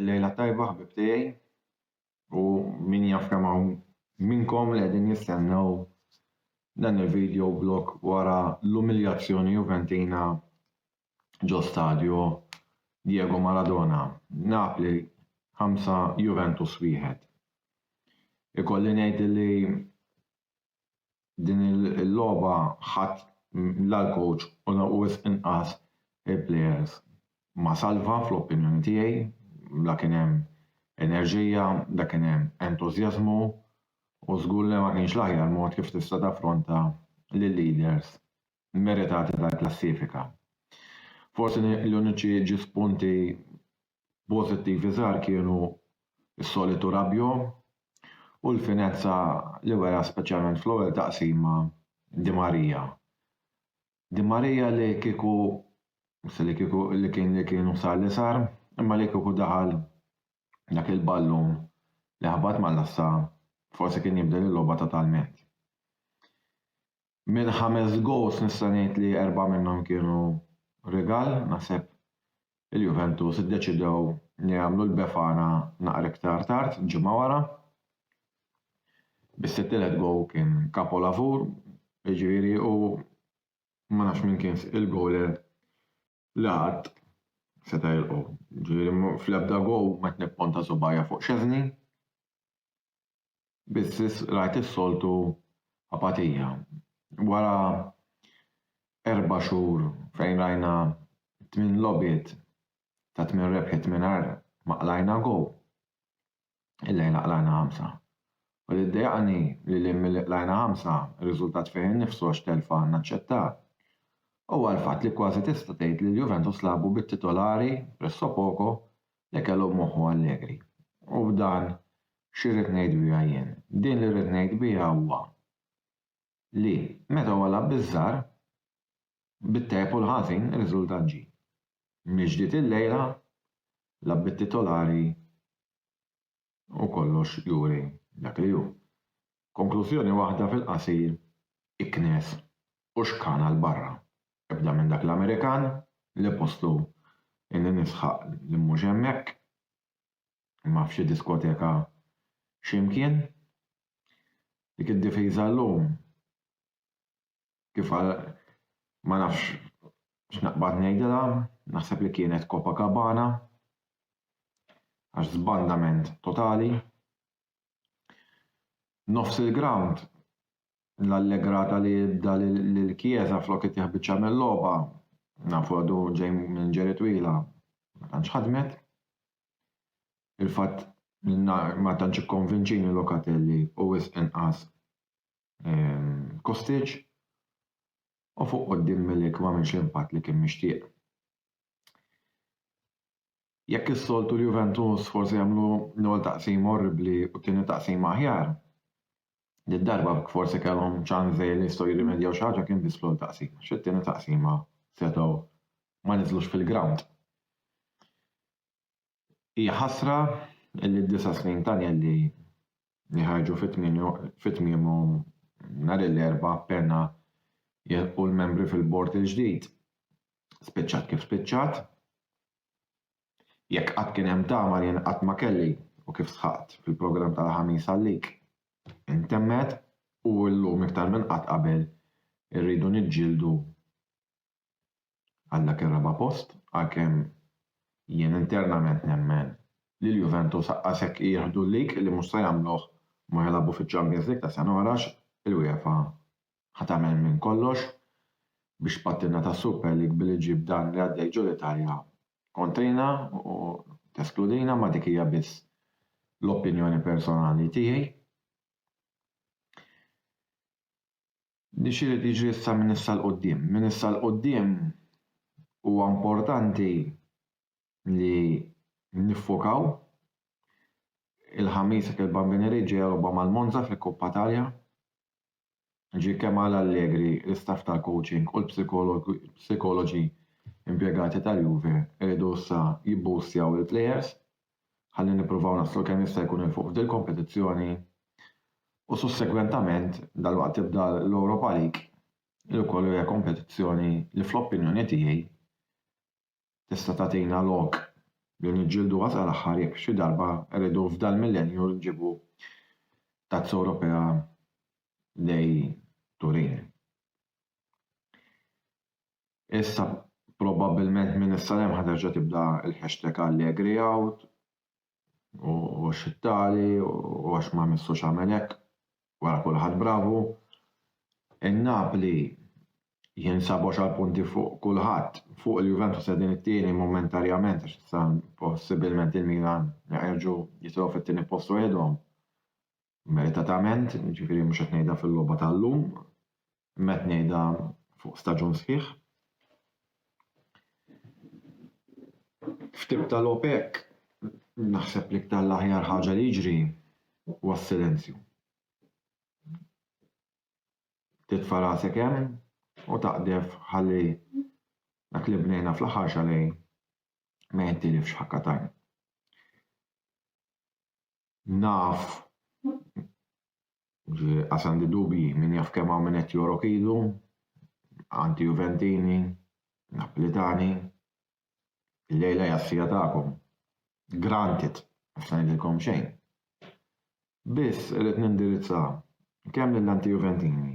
Il-lejla tajba ħbib tiegħi u min jaf kemm hawn minnkom li qegħdin jistennew dan il-video blog wara l-umiljazzjoni Juventina ġo stadju Diego Maradona. Napli 5 Juventus wieħed. Ikolli ngħid li Din il-logħba ħadt la l-coach u lanqus inqas il-players. Ma salva fl-opinjoni tiegħi, la kien hemm enerġija, la kien hemm entużjażmu u żgur li ma kienx l-aħjar mod kif tista' taffronta lil-leaders meritati tal-klassifika. Forsi l-uniċi ġis punti pożittivi żgħar kienu s-solitu Rabiot u l-finezza li wera speċjalment fl-ewwel taqsima Di Maria. Di Maria li kieku li kieku li kien li kien u sar li sar, imma li kieku daħal dak il-ballun li ħabat mal-għassa forsi kien jibdel il-logħba totalment. Mill-ħames goals nista' ngħid li erbgħa minnhom kienu rigal, naħseb il-Juventus iddeċidew li jagħmlu l-Befana naqra iktar tard, ġimgħa wara. Biss it-tielet goal kien kapolavur, jiġifieri u ma nafx min kien il-goaler li qatt seta' jilqgħu. Ġifieri fl-ebda goal ma qed nipponta subajja fuq Szczesny. Biss rajt is-soltu apatija. Wara erba' xhur fejn rajna tmien logħbiet ta' tmien rebħiet mingħajr ma qlajna goal, illejla qlajna ħamsa. U li ddejjaqni li lil milli qlajna ħamsa, ir-riżultat fih innifsu għax telfa naċċettat, huwa l-fatt li kważi tista' tgħid li l-Juventus lagħbu bit-titolari, pressopoko, li kellu f'moħħu Allegri. U b'dan x'irrid ngħid biha jien? Din li rrid ngħid biha huwa li meta huwa lagħab biż-żgħar, bit-tajjeb u l-ħażin ir-riżultat ġie. Mill-ġdid illejla lagħab bit-titolari u kollox juri dak li hu. Konklużjoni waħda fil-qasir, iknes u xkana 'l barra. Ebda minn dak l-Amerikan, li postu inni nisħaq li mhux hemmhekk. imma f'xi diskoteka xi mkien. Dik id-difiża llum kif ma nafx x'naqbad ngħidilha, naħseb li kienet Copacabana għax żbandament totali. Nofs il-grawnd l-allegrata li jibda lil Chiesa flok itih biċċa mil-logħba, nafu għadu ġej minn ġiri twila, ma tantx ħadmet. Il-fatt li ma tantx ikkonvinċini Locatelli u wisq inqas ehm, Kostic u fuq quddiem Milik m'għamilx l-impatt li kien mixtieq. Jekk is-soltu l-Juventus forsi jagħmlu l-ewwel taqsima orribbli u t-tieni taqsima aħjar, Din darba jekk forsi kellhom ċans li jistgħu jirrimedjaw xi ħaġa kien biss fl-ewwel taqsima għax fit-tieni taqsima setgħu ma niżlux fil-grawnd. Hija ħasra li d-disa' snin t'Agnelli jħarġu fi tmiemhom nhar il-Erbgħa appena jilħqu l-membri fil-bord il-ġdid. Spiċċat kif spiċċat. Jekk qatt kien hemm tama jien qatt ma kelli u kif sħaqt fil-programm tal-Ħamis għalik. Intemmet u llum iktar minn qatt qabel irridu niġġieldu għal dak ir-raba' post għalkemm jien internament nemmen li l-Juventus aqqas jekk jieħdu l-League li mhux se jagħmluh ma jilagħbu fiċ-Champions League ta' sena wara għax il-UEFA Ħa tagħmel minn kollox biex pattina tas-Super League billi ġġib dan li għaddej ġol Italja kontrina u teskludina ma dik hija biss l-opinjoni personali tiegħi. Din x'irid jiġri issa minn issa l quddiem Minn issa l quddiem huwa importanti li niffokaw il-ħamis il-Bambini Reġġi jerba' mal-Monza fil-Kuppa Talja Jiġifieri kemm għal Allegri, l-istaff tal-coaching u l-psikologi impjegati tal-Juve iridu issa jibboostjaw lill-plejers ħalli nippruvaw naslu kemm jista' jkun 'il fuq f'dil-kompetizzjoni u sussegwentament dalwaqt tibda l-Europa League li wkoll hija kompetizzjoni li fl-opinjoni tiegħi tista' tagħtina lok li niġġielduha sal-aħħar jekk xi darba rridu f'dal-millennju nġibu Tazza Ewropea lejn Turin. Issa probabbilment minn issa 'l hemm ħa terġa' tibda l-hashtag AllegrieOut u għax it-tali u għax ma missux għamel hekk wara kulħadd bravu. In-Napli jinsab għoxar punti fuq kulħadd, fuq il-Juventus qegħdin it-tieni momentarjament għax issa possibilment il-Milan jerġgħu jitilgħu fit-tieni post waħedhom. meritatament, jiġifieri mhux qed ngħidha fil-logħba tal-lum, imma qed ngħidha fuq staġun sħiħ. F'tip tal-OPEC naħseb li ktar l-aħjar ħaġa li jiġri huwa s-silenzju. Titfa' rasek hemm u taqdef ħalli dak li bnejna fl-aħħar xalej ma jintilifx ħakka tajn. Naf li qas għandi dubji, min jaf kemm hawn min qed jorok idu, anti-Juventini, Naplitani. Illejla hija s-siegħa tagħkom. Granted, mhux se ngħidilkom xejn. Biss irrid nindirizza kemm lill-anti-Juventini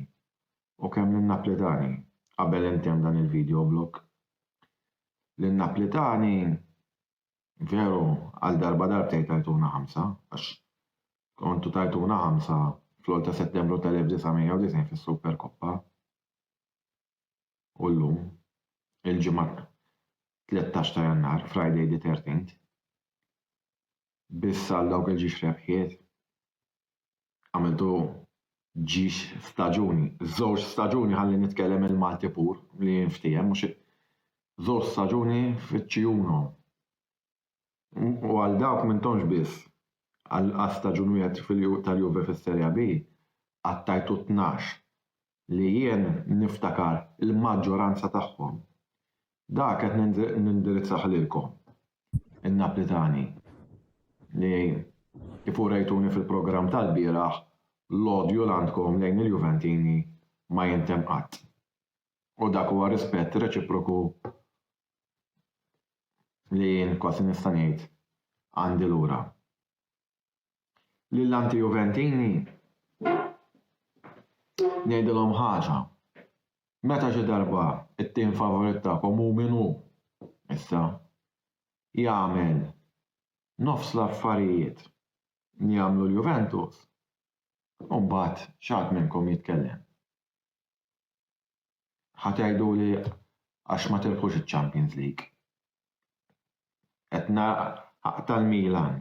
u kemm lin-Naplitani qabel intemm dan il-video blog. Lin-Naplitani Veru, għal darba darbtejn tajtuna ħamsa, għax kontu tajtuna ħamsa fl-għol ta' Settembru tal-1990 fis-Superkoppa. U llum, il-ġimgħa 13 ta' Jannar, Friday the 13th, biss għal dawk il-ġiex rebħiet. għamiltu ġiex staġuni, żewġ staġuni ħalli nitkellem il-Malti pur li jinftiehem mhux żewġ staġuni fiċ-Ċiuno. U għal dawk m'intomx biss, għal staġun wieħed tal-Juve fis-Serie B qattajtu tnax li jien niftakar il-maġġoranza tagħhom. Dak qed nindirizzah lilkom, in-Naplitani, li kif urejtuni fil-programm tal-bieraħ l-odju l-għandkom lejn il-Juventini ma jintemm qatt. U dak huwa rispett reċiproku li jien kważi nista' ngħid għandi lura. Lil anti-Juventini ngħidilhom ħaġa, meta xi darba t-tim favorit tagħkom hu min hu issa, jagħmel nofs l-affarijiet li jagħmlu l-Juventus, imbagħad xi ħadd minnkom jitkellem. Ħa tgħiduli għax ma tilħqux iċ-Champions League. Qed nara tal-Milan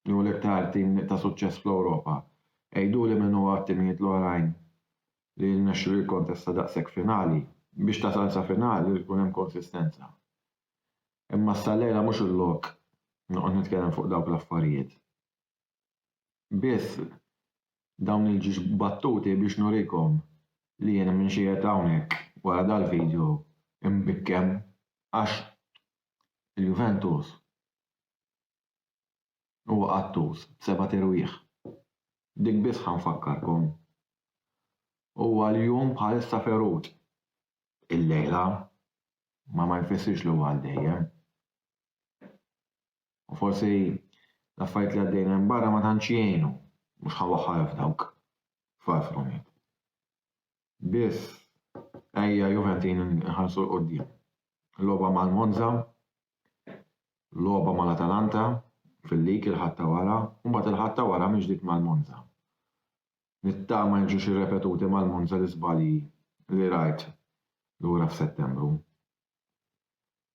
li hu l-iktar tim ta' suċċess fl-Ewropa. Għiduli min huwa t-timijiet l-oħrajn li jirnexxilu jikkontesta daqshekk finali. Biex tasal sa finali jrid ikun hemm konsistenza. Imma s-Sallejra mhux il-lok noqgħod nitkellem fuq dawk l-affarijiet. biss dawn il-ġiex battuti biex nurikom li jiena m'iniex qiegħed hawnhekk wara dal-video imbikkem għax il-Juventus huwa qattus b'sebat irwieħ. B'dik biss ħa nfakkarkom. Huwa l-jum bħalissa ferut. Il-lejla ma ma jfissirx li huwa għal dejjem. u forsi l-affarijiet li għaddejn hemm barra ma tantx jgħinu, mhux ħa waħħal f'dawk f'Alfroniet. Biss ejja Juventin nħarsu l qudiem Logħba mal-Monza, logħba mal-Atalanta fil-lig il-ħatta wara, u mbagħad il-ħatta wara minn ġdid mal-Monza. Nittama jiġux irrepetuti mal-Monza l-iżbalji li rajt lura f'Settembru.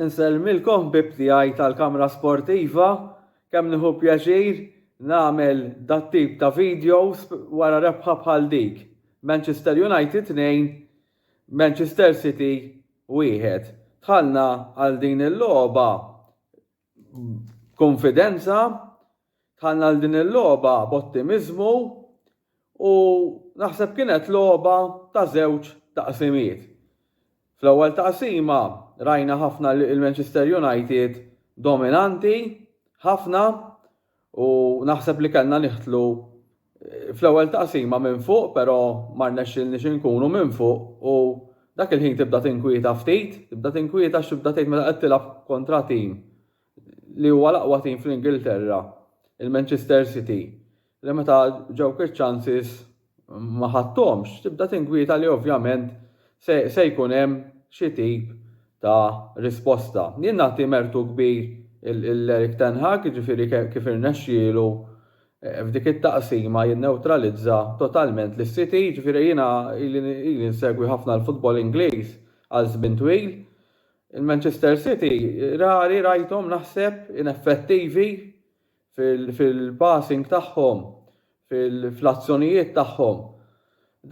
Insellmilkom ħbieb tiegħi tal-kamra sportiva, kemm nieħu pjaċir nagħmel dat-tip ta' videos wara rebħa bħal dik, Manchester United 2, Manchester City 1. Dħalna għal din il-logħba b'kunfidenza, Dħalna għal din il-logħba b'ottimiżmu u naħseb kienet logħba ta' żewġ taqsimiet. Fl-ewwel taqsima rajna ħafna lill-Manchester United dominanti ħafna u naħseb li kellna niħtlu fl-ewwel taqsima minn fuq però ma rnexxilniex inkunu minn fuq u dak il-ħin tibda tinkwieta ftit, tibda tinkwieta x'tibda tgħid meta qed tilgħab kontra tim li huwa l-aqwa tim fl-Ingilterra, il-Manchester City, li meta ġewk iċ-chances ma ħadthomx, tibda tinkwieta li ovvjament se jkun hemm xi tip ta' risposta. Jien nagħti mertu kbir lil Erik ten Hag, jiġifieri kif irnexxielu f'dik it-taqsima jinnewtralizza totalment lis-City, jiġifieri jiena ili nsegwi ħafna l-futbol Ingliż għal żmien twil, Il-Manchester City rari rajthom naħseb ineffettivi fil-passing tagħhom, fl-azzjonijiet tagħhom,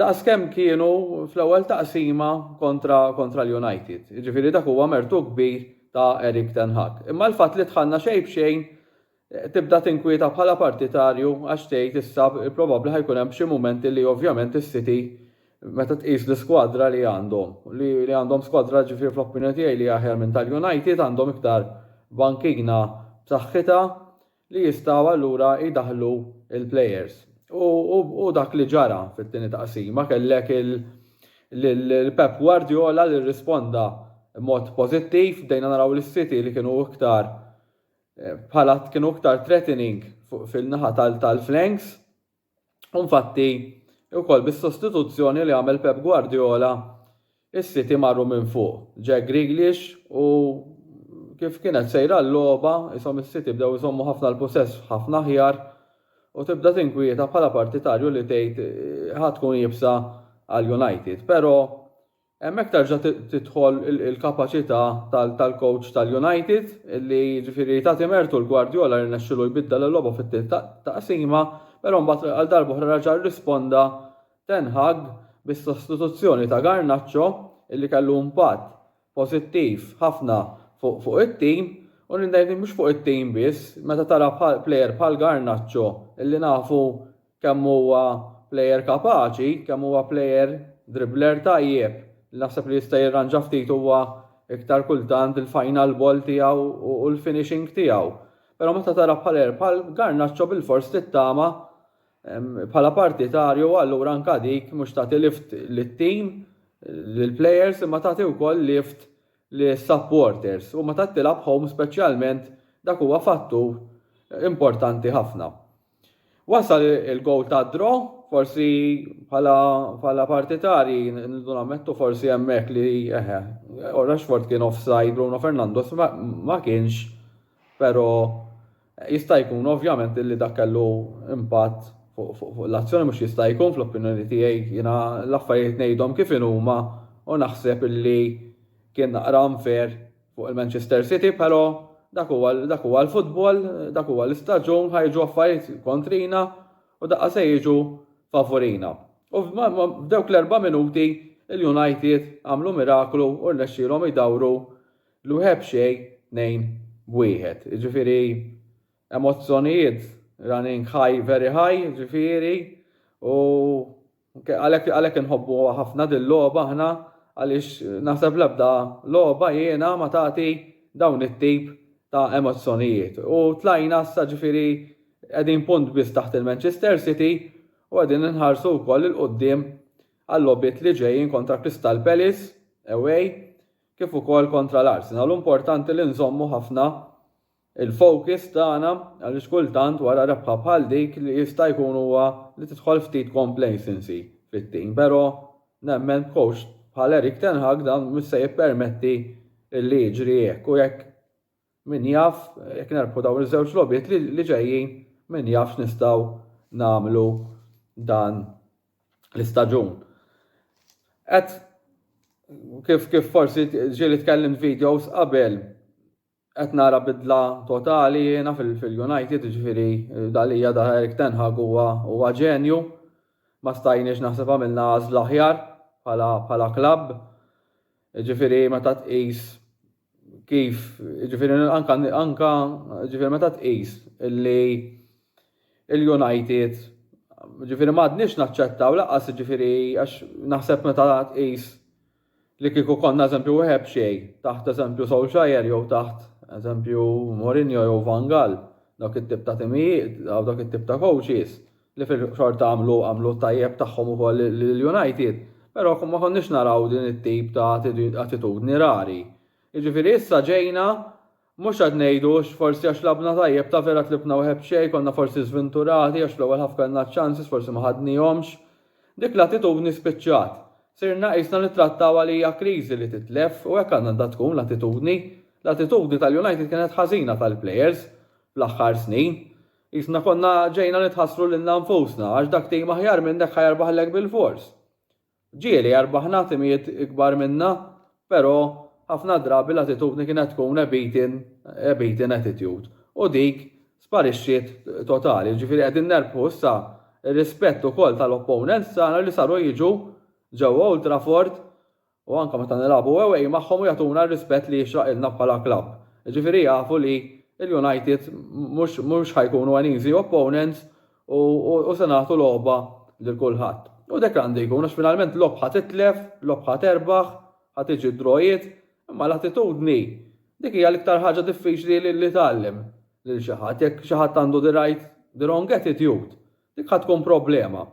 daqs kemm kienu fl-ewwel taqsima kontra l-United. Jiġifieri dak huwa mertu kbir ta' Erik ten Hag. Imma l-fatt li dħalna xejn b'xejn Tibda tinkwieta bħala partitarju għax tgħid issa probabbli ħa jkun hemm xi mumenti li ovvjament is-City meta tqis l-iskwadra li għandhom, li għandhom skwadra ġifieri fl-opinjoni tiegħi li hija aħjar minn tal-United, għandhom iktar bankina b'saħħitha li jistgħu allura jdaħħlu l-players. U hu dak li ġara fit-tieni taqsima, kellek lil Pep Guardiola li rrisponda b'mod pożittiv, bdejna naraw lis-City li kienu iktar bħala kienu iktar threatening fil-naħa tal-flanks u infatti ukoll bis-sostituzzjoni li għamel Pep Guardiola is-City marru minn fuq. Jack Grealish u kif kienet sejra l-logħba ishom is-City bdew iżommu ħafna l-pusess ħafna aħjar u tibda tinkwieta bħala partitarju li tgħid ħa tkun iebsa għal United. Però Hemmhekk terġa' tidħol il-kapaċità tal-kowċ tal-United li jiġifieri tagħti mertu l-Guardiola li rnexxielu jbiddel il-logħba fit-tieni taqsima, però mbagħad għal darb'oħra reġa' rrisponda Ten Hag bis-sostituzzjoni ta' Garnacho li kellu impatt pożittiv ħafna fuq it-tim u ngħid mhux fuq it-tim biss, meta tara plejer bħal Garnacho li nafu kemm huwa plejer kapaċi, kemm huwa plejer dribbler tajjeb. Naħseb li jista' jirranġa ftit huwa iktar kultant il-final ball tiegħu u l-finishing tiegħu. Però meta tara bħal bħal Garnaċċo bilfors tittama bħala partitarju allura anka dik mhux tagħti lift lit-tim lill-plejers imma tagħti wkoll lift lis-supporters u meta tilgħab home speċjalment dak huwa fattur importanti ħafna. Wasal il-gowl ta' draw, forsi bħala partitari nridu nammettu forsi hemmhekk li eħe, Rashford kien offside, Bruno Fernandes ma kienx, però jista' jkun ovvjament li dak kellu impatt fuq l-azzjoni mhux jista' jkun fl-opinjoni tiegħi jiena l-affarijiet ngħidhom kif inhuma u naħseb li kien naqra unfair Fuq il-Manchester City però dak huwa dak huwa l-futbol, dak huwa l-istaġun, ħajġu affarijiet kontrina u daqqa se jiġu favurina. U f'dawk l-erba' minuti il-United għamlu miraklu u rnexxielhom jdawru l-wħeb xejn tnejn b'wieħed. Ġifieri emozzjonijiet running high very high ġifieri u Għalhekk għalhekk inħobbuha ħafna dil-logħba aħna għaliex naħseb l-ebda logħba hiena ma tagħti dawn it-tip ta' emozzjonijiet. U tlajna issa ġifieri qegħdin punt biss taħt il-Manchester City u qegħdin inħarsu wkoll 'il quddiem għal-logħbiet li ġejjin kontra Crystal Palace, away, kif ukoll kontra l-Arsenal. Hu importanti li nżommu ħafna il-focus tagħna għaliex kultant wara rebħa bħal dik li jista' jkun huwa li tidħol ftit complacency fit-team pero' nemmen b'coach bħal Erik ten Hag dan mhux se jippermetti li jiġri hekk u jekk min jaf jekk nerbħu dawn iż-żewġ logħbiet li ġejjin min jaf x'nistgħu nagħmlu dan l-istaġun. Qed kif kif forsi ġieli tkellimt videos qabel Qed nara bidla totali jiena fil-United, jiġifieri dak li jada Erik ten Hag huwa ġenju. Ma stajniex naħseb għamilna għażla aħjar bħala klabb. Jiġifieri meta tqis kif jiġifieri anke anke jiġifieri meta tqis li l-United jiġifieri m'għadniex naċċettaw lanqas jiġifieri għax naħseb meta tqis Li kieku konna eżempju wieħed b'xejn, taħt eżempju Solskjaer jew taħt eżempju Mourinho jew Van Gaal, dawk it-tip ta' timijiet, dawk it-tip ta' coaches, li fil-xorta għamlu għamlu t-tajjeb tagħhom ukoll lill-United, però ma konniex naraw din it-tip ta' attitudni rari. Jiġifieri issa ġejna Mhux qed ngħidu hux forsi għax labna tajjeb ta' vera tlibna waheb xejn, konna forsi żvinturati għax fl-ewwel ħaf kellna ċ-chances forsi ma ħadnihomx. Dik l-attitudni spiċċat. Sirna qisna nittrattawha li hija kriżi li titlef u hekk għandha tkun l-attitudni. L-attitudni tal-United kienet ħażina tal-players fl-aħħar snin. Qisna konna ġejna nitħassru lilna nfusna għax dak team aħjar minnek ħa jerbaħlek bilfors. Ġieli, rbaħna timijiet ikbar minna, pero ħafna drabi l-attitudni kienet tkun a beaten, a beaten attitude. U dik sparixxiet totali. Ġifieri qegħdin nerbħu issa r-rispett ukoll tal-opponents tagħna li saru jiġu ġewwa Old Trafford u anke meta nilagħbu away magħhom u jagħtuna r-rispett li jixraqilna bħala klabb. Ġifieri jafu li l-United mhux mhux ħa jkunu an easy opponents u se nagħtu logħba lil kulħadd. U dek għandu jkun għax finalment logħob ħa titlef, logħob ħa terbaħ, ħa tiġi d-drojiet, imma l-attitudni dik hija l-iktar ħaġa diffiċli li tgħallem lil xi ħadd. Jekk xi ħadd għandu the right, the wrong attitude, dik ħa tkun problema.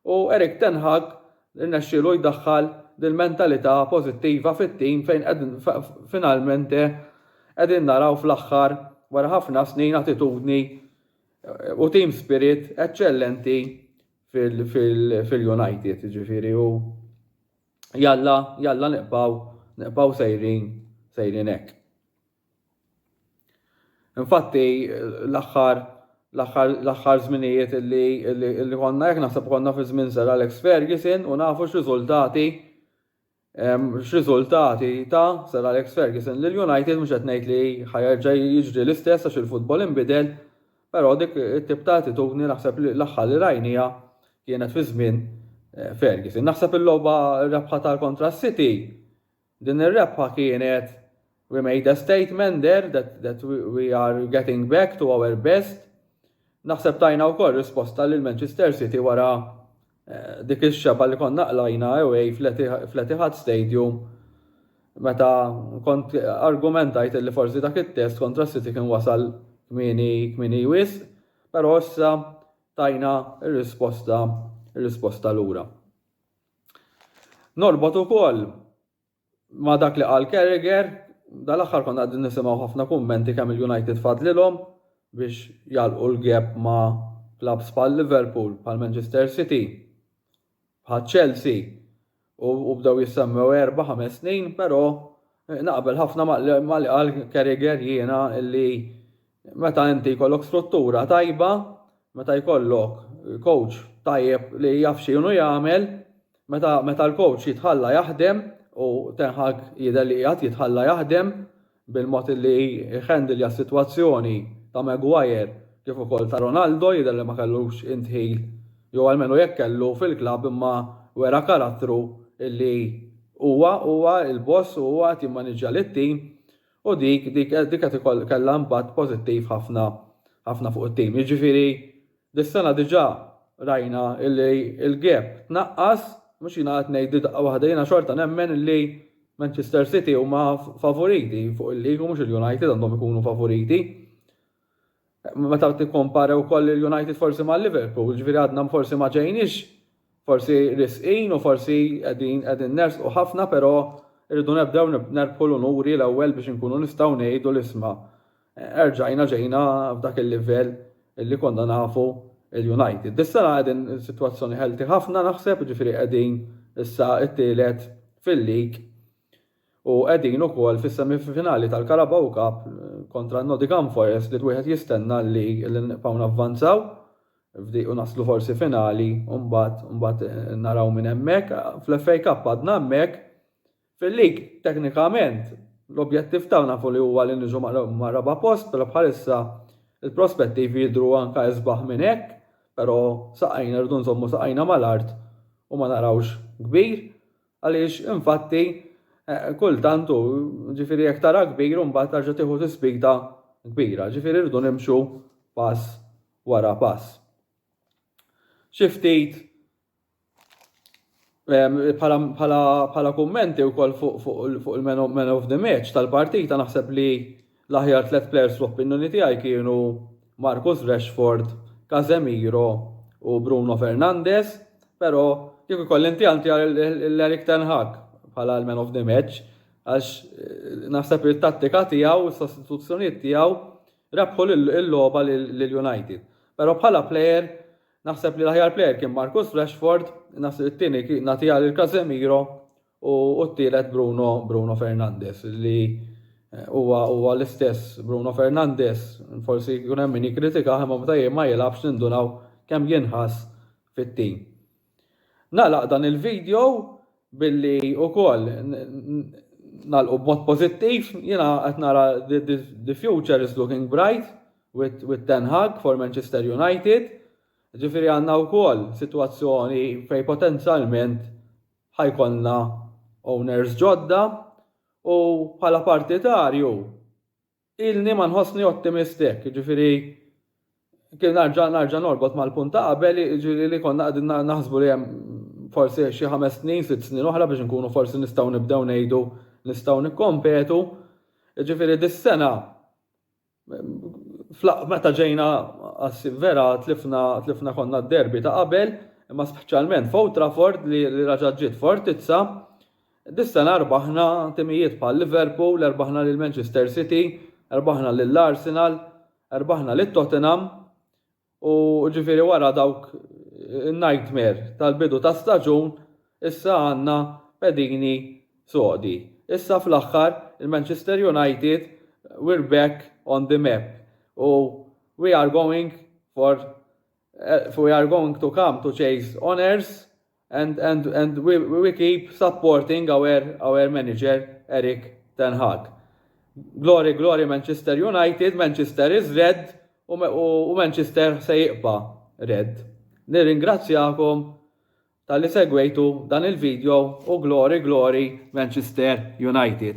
U Erik ten Hag irnexxielu jdaħħal dil-mentalità pożittiva fit-tim fejn finalmente qegħdin naraw fl-aħħar wara ħafna snin attitudni U team spirit eċċellenti fil-United, ġifiri, u jalla, jalla niqpaw, niqpaw sejrin, sejrin hekk. Infatti, l-axħar, l-axħar zminijiet li konna jek naħseb konna fi żmien Sir Alex Ferguson u nafu x-riżultati X'riżultati ta Sir Alex Ferguson lil United, mhux qed ngħid li ħa jerġa' jiġri l-istess għax il-futbol inbidel, però dik it-tip ta' attitudni naħseb li l-aħħar li rajniha kienet fi żmien Ferguson. Naħseb il-logħba rebħa tal-kontra s-City, din ir-rebħa kienet We made a statement there that, that we, we are getting back to our best. Naħseb tajna wkoll risposta lil Manchester City wara eh, dik ix-xeba li konna qlajna away fl-Etihad Stadium meta kont argumentajt li forsi dak it-test kontra City kien wasal kmini kmini wis, però issa tajna r-risposta r-risposta lura. Norbot ukoll Ma' dak li qal Carragher, dal-aħħar konna qegħdin nisimgħu ħafna kummenti kemm il-United fadlilhom biex jagħlqu l-gap ma' klabbs bħal Liverpool, bħal Manchester City, bħal Chelsea u bdew jissemmew erba' ħames snin, però naqbel ħafna ma' li qal Carragher jiena li Meta inti jkollok struttura tajba, meta jkollok coach tajjeb li jaf x'inhu jagħmel, meta meta l-coach jitħalla jaħdem u Ten Hag jidher li qiegħed jitħalla jaħdem bil-mod li jhandilja s-sitwazzjoni ta' Maguire kif ukoll ta' Ronaldo jidher li ma kellux indħil jew almenu jekk kellu fil-klabb imma wera karattru li huwa huwa l-boss u huwa qed jimmaniġġja lit-tim U dik, dik, dik qed ikoll, kellha impatt pożittiv ħafna, ħafna fuq it-tim. Jiġifieri dis-sena diġà rajna li l-gap tnaqqas, mhux jiena qed ngħid li daqqa waħda, jiena xorta nemmen li Manchester City huma favoriti fuq il-league u mhux il-United għandhom ikunu favoriti. Meta tikkompara wkoll lill-United forsi ma' Liverpool, ġifieri għadna forsi ma ġejniex forsi risqin u forsi qegħdin qegħdin nersqu ħafna però rridu nebdew nerbħu l-unuri l-ewwel biex inkunu nistgħu ngħidu li isma' erġajna ġejna f'dak il-livell li konna nafu l-United. Dis-sena qegħdin sitwazzjoni healthy ħafna naħseb, ġifieri qegħdin issa t-tielet fil-league u qegħdin ukoll fis-semifinali tal-Carabao Cup kontra n-Nottingham Forest li wieħed jistenna li nibqgħu navvanzaw f'dik u naslu forsi finali u mbagħad mbagħad naraw minn hemmhekk. Fl-FA Cup għadna hemmhekk. Fil-lig teknikament l-objettiv tagħna nafu li huwa li niġu mar-raba' post però bħalissa l-prospettivi jidhru anke isbaħ minn hekk però saqajna rridu nżommu saqajna mal-art u ma narawx kbir. Għaliex, infatti, kultant hu, ġifieri jekk tara kbir u mbagħad tarġa' tieħu tispita kbira, ġifieri rridu nimxu pass wara pass. Xi ftit bħala kummenti wkoll fuq il-man of the match tal-partita naħseb li L-aħjar tliet plejers fl-opinjoni tiegħi kienu Marcus Rashford, Casemiro u Bruno Fernandes, pero kieku jkolli ntjantja lil Erik ten Hag bħala l-man of the match għax naħseb li t-tattika tiegħu u s-sostituzzjonijiet tiegħu rebħu l-logħba lil United. Pero bħala plejer naħseb li l-aħjar plejer kien Marcus Rashford, naħseb it-tieni nagħtiha lil Casemiro u t-tielet Bruno Bruno Fernandes li huwa huwa l-istess Bruno Fernandes, forsi jkun hemm min jikkritikah imma meta ma jilgħabx nindunaw kemm jinħass fit-tim. Nagħlaq dan il-video billi wkoll nagħlqu b'mod pożittiv, jiena qed nara the future is looking bright with, with Ten Hag for Manchester United. Ġifieri għandna wkoll sitwazzjoni fejn potenzjalment Ħa jkollna owners ġodda u bħala partitarju ilni ma nħossni ottimist hekk, jiġifieri kien narġa' narġa' norbot mal-punt ta' qabel jiġifieri li konna qegħdin naħsbu li hemm forsi xi ħames snin, sitt snin oħra biex inkunu forsi nistgħu nibdew ngħidu nistgħu nikkompetu. Jiġifieri dis-sena Meta ġejna vera tlifna konna d-derby ta' qabel, imma speċjalment f'Old Trafford li reġgħet ġiet fortizza, dis-sena rbaħna timijiet bħal Liverpool, rbaħna lil Manchester City, rbaħna lil Arsenal, rbaħna lit-Tottenham U ġifieri wara dawk in-nightmare tal-bidu ta' staġun, issa għandna pedini sodi. Issa fl-aħħar il-Manchester United we're back on the map u we are going for we are going to come to chase honours And, and, and we, we keep supporting our, our manager Eric Ten Hag. Glory, glory Manchester United, Manchester is red u, u, u Manchester se jiqba red. Nirringrazzjakom tal-li segwejtu dan il-video u glory, glory Manchester United.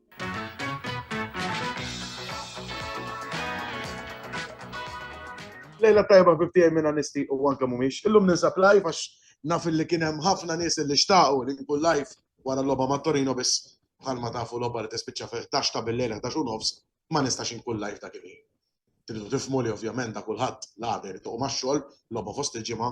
Lejla tajba bibtijaj minn anisti u għanka mumiex. Illum ninsab live għax naf li kienem ħafna nis li xtaqu li nkun live wara l-loba ma' Torino bis bħalma tafu loba li tispiċċa fil tax ta' bil-lejla tax u nofs ma nistax nkun live ta' kif. Tridu tifmu li ovvjament da' kulħadd l-għader tuq ma' xogħol loba fost il-ġimgħa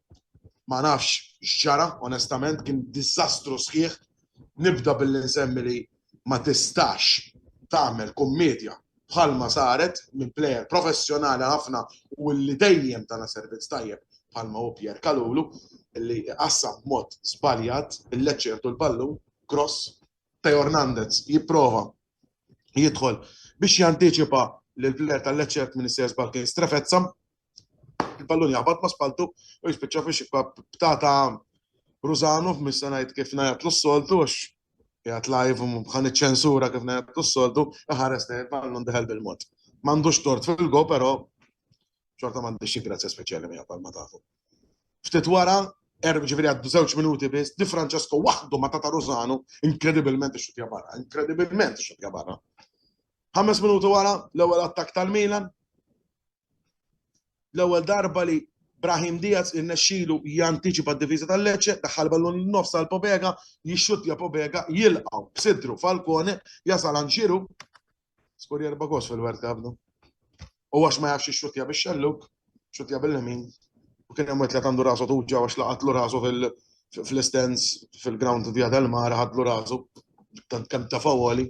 ma nafx x'ġara onestament kien diżastru sħiħ. Nibda billi nsemmi li ma tistax tagħmel kummedja bħalma saret minn plejer professjonali ħafna u li dejjem tana servizz tajjeb bħalma hu Pierre Kalulu li qassam b'mod żbaljat il-Lecce jieħdu l-ballun, cross, Theo Hernandez jipprova jidħol biex jantiċipa lill-plejer tal-Lecce jekk m'insejjax żball kien Strefezza Il-pallun jaħbat ma' spaltu u jispiċċa fi xibka b'tata Rużanu f'missa ngħid kif ngħidlu s-soltu għax jgħat live u bħan iċ-ċensura kif ngħidlu s-soltu ħares lejn il-pallun deħel bil-mod. M'għandux tort fil-go però xorta m'għandix xi grazzja speċjali miegħu bħalma tafu. Ftit wara erb ġifieri għaddu żewġ minuti biss, Di Francesco waħdu ma tata Rużanu inkredibilment ix-xutja barra, inkredibilment ix-xutja barra. Ħames minuti wara l-ewwel attak tal-Milan, L-ewwel darba li Brahim Diaz irnexxielu jantiċipa d-difiża tal-Lecce, daħħal ballun lin-nofs għal Pobega, jixxuttja Pobega, jilqgħu b'sidru Falcone, jasal għand Giroud, skur jerba' gos fil-World Cup dan. U għax ma jafx ixxuttja bix-xelluk, xuttja bil-lemin, u kien hemm wetlet għandu rasu tuġġa għax laqatlu rasu fil-istens fil-ground Via del Mar ħadlu rasu tant kemm ta' fawoli.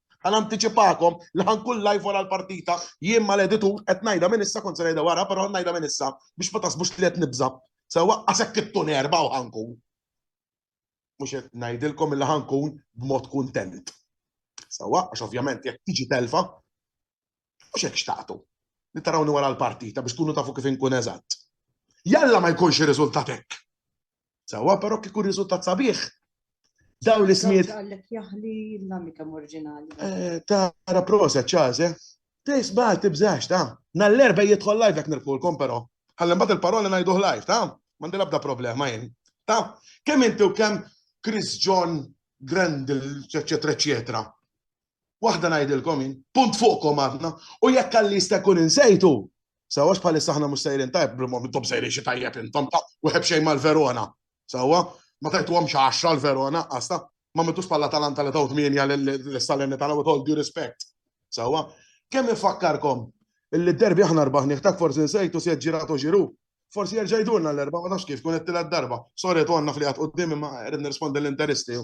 Ħa nantiċipakom li ħa nkun live wara l-partita, jien mal-editur qed ngħidha minn issa kont se ngħidha wara però ħa ngħidha minn issa biex ma taħsbux li qed nibża'. Se waqqas hekk it-tun erba' u ħa nkun. Mhux qed ngħidilkom li ħa nkun b'mod kuntent. Sewwa għax ovvjament jekk tiġi telfa Mhux hekk xtaqtu li tarawni wara l-partita biex tkunu tafu kif inkun eżatt. Jalla ma jkunx ir-riżultat hekk. Sewwa, però kieku riżultat sabiħ, dawn l-ismijiet. Għallek jaħli l-amika oriġinali. Eh, tara proset ċaż, eh? Tejs baħ tibżax, ta' nall-erba jidħol live jek nirkulkom, pero. Għallem bat il-parola najduħ live, ta' mandi labda problema jen. Ta' kem inti u kem Chris John Grendel, eccetera, eccetera. Waħda ngħidilkom jien, punt fuqkom aħna, u jekk għalli jista' jkun insejtu. Sawa bħalissa aħna mhux sejrin tajb, brimhom momentum sejrin xi tajjeb intom ta' u xejn mal-Verona. Sawa, ma tajtuhom xi għaxra l-Verona qasta, ma mitux bħala talanta li taw tmienja l-Salerni tagħna with all due respect. Sawa, kemm ifakkarkom illi d-derbi aħna rbaħ nieħtak forsi nsejtu se ġiratu ġiru. Forsi jerġa' jdurna l-erba' ma nafx kif kun qed darba. Sorry għandna fli għad qudiem imma qed nirrispondi l-interisti.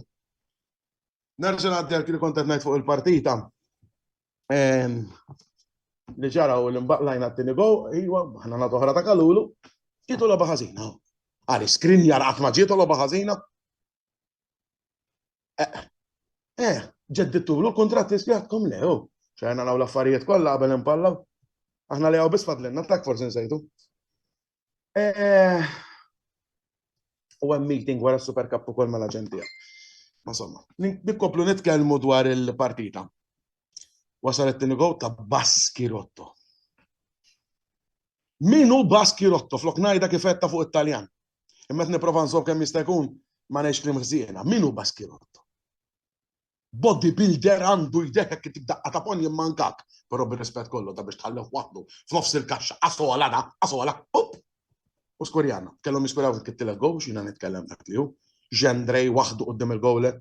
Nerġa' ngħaddi għal kien kont qed ngħid fuq il-partita li ġara u l-imbaqlajna t-tini go, iwa, ħna nagħtu ħra ta' kalulu, ġietu logħba ħażina. Għali skrin jar qatt ma ġietu logħba ħażina. Eh, eh ġeddittu l kontrat ispjatkom le, oh. ċajna naw l-affarijiet kollha qabel impallaw. Aħna li għaw bisfadlenna, tak forsi nsejtu. Eh, u hemm meeting wara Super Cup ukoll mal-aġentija. Ma somma, nikkoplu nitkellmu dwar il-partita. Wasal it-tieni gow ta' Baskirotto. Min hu Baskirotto flok ngħidha kif qed fuq it-Taljan. Imma qed nipprova nżomm kemm jista' jkun ma ngħidx klim ħsiena. Min hu Baskirotto? body builder għandu jdeħħek intik daqqa ta' ponn jimmankak, però bir-rispett kollu ta' biex tħallih waħdu f'nofs il-kaxxa qasola da, qasola, up! U skurjana, kellhom jiskuraw fil kittilet goal biex jiena nitkellem dak li hu. Gendrej waħdu quddiem il-goaler,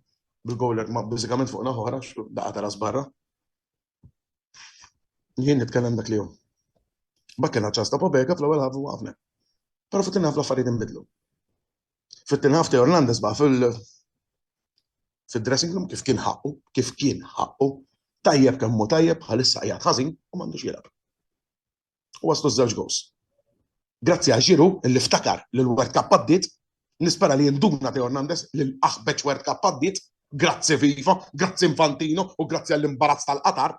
bil-goaler ma' biżikament fuq naħa oħra, daqqa ta' ras barra. Jien nitkellem dak li hu. Bakkelna ċans ta' Pobega fl-ewwel ħafu waqafna. Però fit-tieni ħafna affarijiet inbidlu. Fit-tieni ħafta Hernandez baqa' fil fid-dressing room kif kien ħaqqu, kif kien ħaqqu, tajjeb kemm hu tajjeb bħalissa qiegħed ħażin u m'għandux jilgħab. U waslu ż-żewġ goals. Grazzi għal Ġiru li ftakar li l-World Cup għaddiet, nispera li jinduna Teo Hernandez li l-aħbeġ World Cup għaddiet, grazzi Viva, grazzi Infantino u grazzi għall-imbarazz tal-Qatar.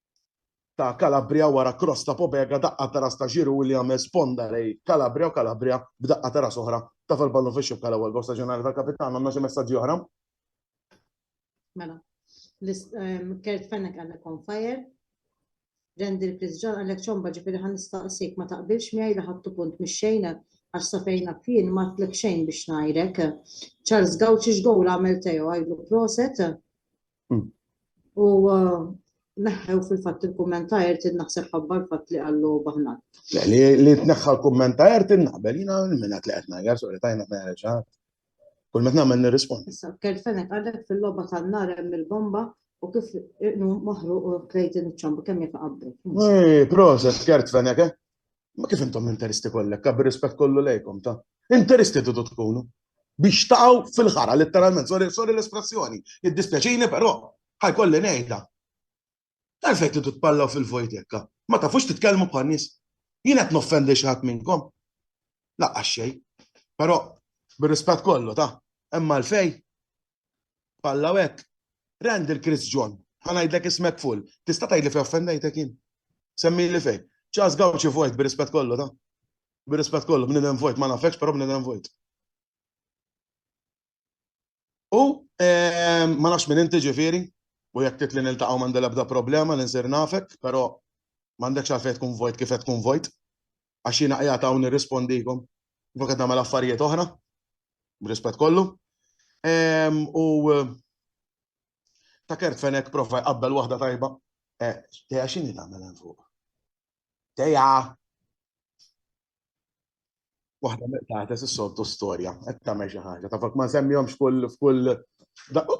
ta' Calabria wara cross ta' Pobega daqqa ta' ras ta' Giroud li għamel sponda lejn Calabria u Calabria b'daqqa ta' ras oħra taf il-ballun fix-xibka l-ewwel gowl staġjonali tal-kapitan għandna xi messaġġi oħra? Mela. Kurt Fenech għandek on fire. Randy Chris John għandek ċomba ġifieri ħan nistaqsik ma taqbilx miegħi li ħadtu punt mix-xejn għax safejna fien ma tlek xejn biex ngħidlek. Charles Gauci x'gowl għamel Teo għidlu proset. U uh, neħħew fil-fatt il-kumment ta' Ertin naħseb ħabba l-fatt li għallu baħnat. Li li tneħħa l-kumment ta' Ertin naqbel jina minna li qed ngħajjar sorry tajna tneħħa Kull meta nagħmel nirrispondi. Issa kelfenek għalek fil-logħba tan-nar hemm il-bomba u kif iqnu moħru u klejtin iċ-ċomba kemm jekk qabri. Eh, proset kelfenek eh? Ma kif intom interisti kollek, kabbi rispett kollu lejkom ta' interisti tidu tkunu biex taqgħu fil-ħara letteralment, sorry, sorry l-espressjoni, id-dispjaċini però ħajkolli ngħidha. Għalfejn tidu tpallaw fil-vojt hekk, ma tafux titkellmu bħal nies. Jien qed noffendi xi ħadd minnkom. Laqqa xejn. Però bir-rispett kollu ta' hemm għalfejn Alla u hekk. Randall Chris John, ħa ngħidlek ismek full. Tista' tgħidli fejn offendejtek jien? Semmili fejn. Charles Gauci Voit, bir-rispett kollu, ta'. Bir-rispett kollu, bniedem vojt, ma nafekx, però bniedem vojt. U ma nafx minn inti ġifieri, u jekk titli niltaqgħu m'għandi l-ebda problema li nsir nafek, però m'għandekx għalfejn tkun vojt kif qed tkun vojt. għax jiena qiegħed hawn nirrispondikom kif qed nagħmel affarijiet oħra, b'rispett kollu. U ta' kert fenek prova jqabbel waħda tajba. Eh, Teja xini tagħmel hemm fuq? Teja! Waħda meqtates is-soltu storja, qed tagħmel xi ħaġa. Tafak ma nsemmihomx kull f'kull oh!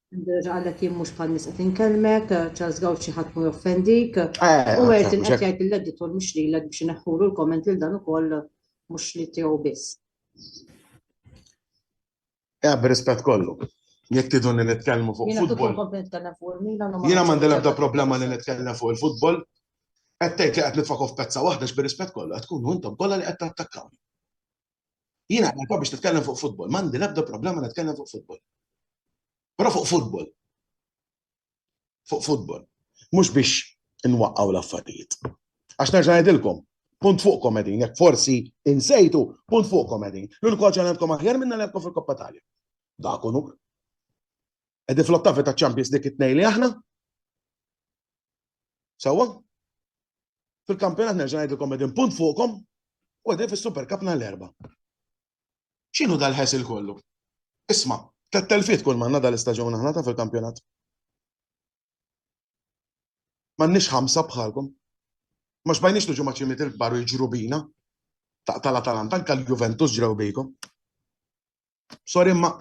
Nerġa' għalek jien mhux bħal nies qed inkellmek, Charles Gauci ħadd mhu joffendik. Eh, U għert mhux qed hekk. jgħid lill-editur mhux lilek biex ineħħulu l-komment lil dan ukoll mhux li tiegħu biss. Eh, b'rispett kollu. Jekk tidu li nitkellmu fuq Jiena tuk futbol. il-komp nitkellem fuq il-Milan u ma Jiena m'għandi l-ebda problema li nitkellem fuq il-futbol. Qed tgħid li qed nitfakok f'pezza waħda x'bir-rispett kollu qed tkunu intom kollha li qed tattakkawni. Jiena għalka biex titkellem fuq futbol, m'għandi l-ebda problema nitkellem fuq futbol. Però fuq futbol. Fuq futbol. Mhux biex inwaqqgħu l-affarijiet. Għax nerġa' ngħidilkom, punt fuq komedin, jekk forsi insejtu, punt fuq komedin. L-uniku ħaġa għandkom aħjar minna l-għandkom fil-Koppa Talja. Dakunu. Qegħdin fl-ottavi taċ-Champions League it-tnejn li aħna. Sewwa? Fil-kampjonat nerġa' ngħidilkom qegħdin punt fuqhom u qegħdin fis-Super Cup nhar l-erba'. X'inhu dal-ħesil kollu? Isma', tlet telfiet kull manna dal-istaġun aħna ta' fil-kampjonat. M'għandniex ħamsa bħalkom. Ma xbajniex niġu ma' ċimiet il-kbar u jiġru bina. Taqta' l-Atalanta, anke l-Juventus ġrew bikom. Sorry imma